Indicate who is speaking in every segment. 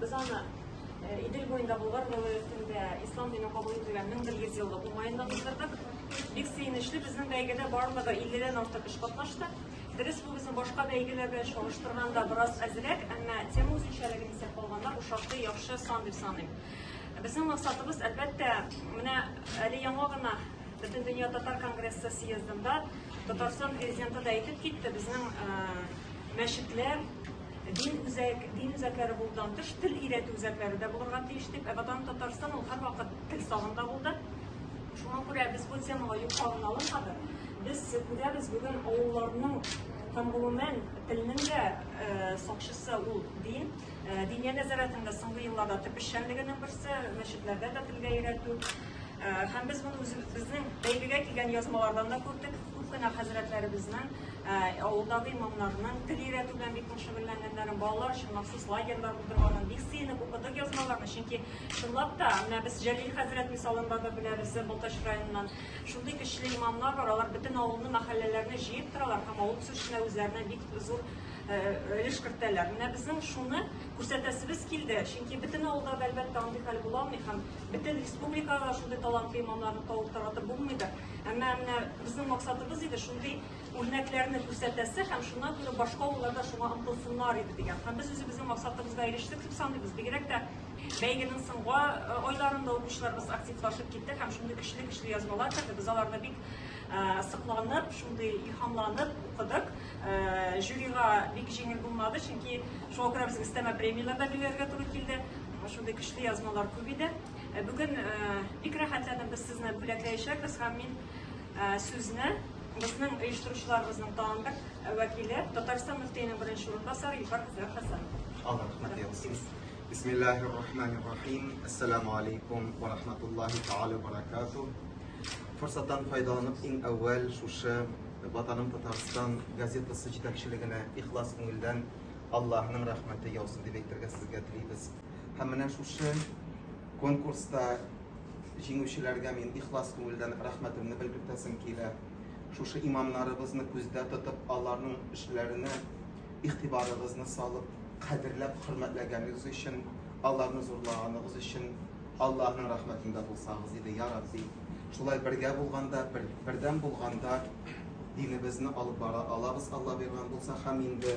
Speaker 1: Без аны Идел буенда Болгар вилаятында ислам дине кабул ителгән 1100 еллык уңаенда уздырдык. Бик сөенечле, безнең бәйгедә барлыгы 50-дән артык эш катнашты. Дөрес, бу безнең башка бәйгеләр белән чагыштырганда бераз әзрәк, әмма тема үзенчәлеген исәп алганда бу шактый яхшы сан дип саныйм. Безнең максатыбыз, әлбәттә, менә әле яңа гына Бөтен дөнья татар конгрессы съездында Татарстан президенты да әйтеп китте, безнең мәчетләр Дин үзәк, дин үзәкләре булудан тыш, тел өйрәтү үзәкләре дә булырга тиеш дип, ә Ватан Татарстан ул һәрвакыт тел сагында булды. Шуңа күрә без бу темага юкалын алынмадык. Без күрәбез бүген авылларның һәм гомумән телнең дә э, сакчысы ул дин. Э, Диния нәзарәтенең дә соңгы елларда төп эшчәнлегенең берсе, мәчетләрдә дә телгә өйрәтү. Э, Һәм без моны үз- безнең бәйгегә килгән язмалардан да күрдек. Күп кенә хәзрәтләребезнең авылдагы имамнарның тел өйрәтү белән бик нык шөгыльләнгәннәрен, балалар өчен махсус лагерьлар булдырганын бик сөенеп укыдык язмаларны. Чөнки, чынлап та, менә без Җәлил хәзрәт мисалында да беләбез, Балтач районыннан шундый көчле имамнар бар, алар бөтен авылны, мәхәлләләрне җыеп торалар һәм авыл үсешенә үзләренә бик зур өлеш кертәләр. Менә безнең шуны күрсәтәсебез килде, чөнки бөтен авылда да, әлбәттә, андый хәл була алмый һәм бөтен республикага да шундый талантлы имамнарны табып таратып булмыйдыр. Әмма менә безнең максатыбыз иде шундый үрнәкләрне күрсәтәсе һәм шуннан күрә башка авыллар да шуңа омтылсыннар иде дигән. Һәм без үзебезнең максатыбызга ирештек дип саныйбыз. Бигрәк тә бәйгенең соңгы э, айларында укучыларыбыз активлашып китте һәм шундый көчле-көчле язмалар керде. Без аларны бик э, сыкланып, шундый илһамланып укыдык. Э, жюрига бик җиңел булмады, чөнки шуңа күрә безгә өстәмә премияләр дә билгеләргә туры килде. Шундый көчле язмалар күп иде. Ә бүген бик рәхәтләнеп без сезне бүләкләячәкбез һәм мин сүзне безнең оештыручыларыбызның тагын бер вәкиле Татарстан мөфтиенең беренче урынбасары Илфар Хәсән. Алла рәхмәт яусын. Бисмиллахир рахманир рахим. Ассаламу алейкум ва рахматуллахи тааля ва баракату. Форсаттан файдаланып иң әүвәл шушы Ватаным Татарстан газетасы җитәкчелегенә ихлас күңелдән Аллаһның рәхмәте яусын дип әйтергә сезгә телибез. Һәм менә шушы конкурста җиңүчеләргә мин ихлас күңелдән рәхмәтемне белгертәсем килә. Шушы имамнарыбызны күздә тотып, аларның эшләренә игътибарыгызны салып, кадерләп, хөрмәтләгәнегез өчен, аларны зурлаганыгыз өчен Аллаһның рәхмәтендә булсагыз иде, я Рабби. Шулай бергә булганда, бер, бердәм булганда динебезне алып бара алабыз, Алла биргән булса, һәм инде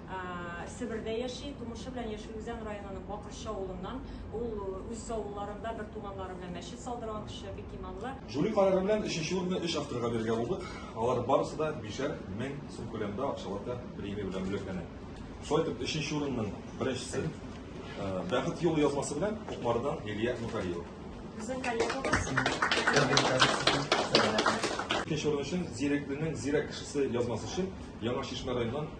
Speaker 1: Себердә яши. Тумышы белән Яшел Үзән районының Бакырчы авылыннан. Ул үз авылларында бертуганнары белән мәчет салдырган кеше, бик иманлы. Жюри карары белән өченче урынны өч авторга бирергә булдык. Алар барысы да бишәр мең сум күләмендә акчалата премия белән бүләкләнә. Шулай итеп, өченче урынның беренчесе, Бәхет юлы язмасы белән Кукмарыдан Лилия Нургалиева. Безнең коллегабыз. Икенче урын өчен Зирәкленең зирәк кешесе язмасы өчен Яңа Чишмә районыннан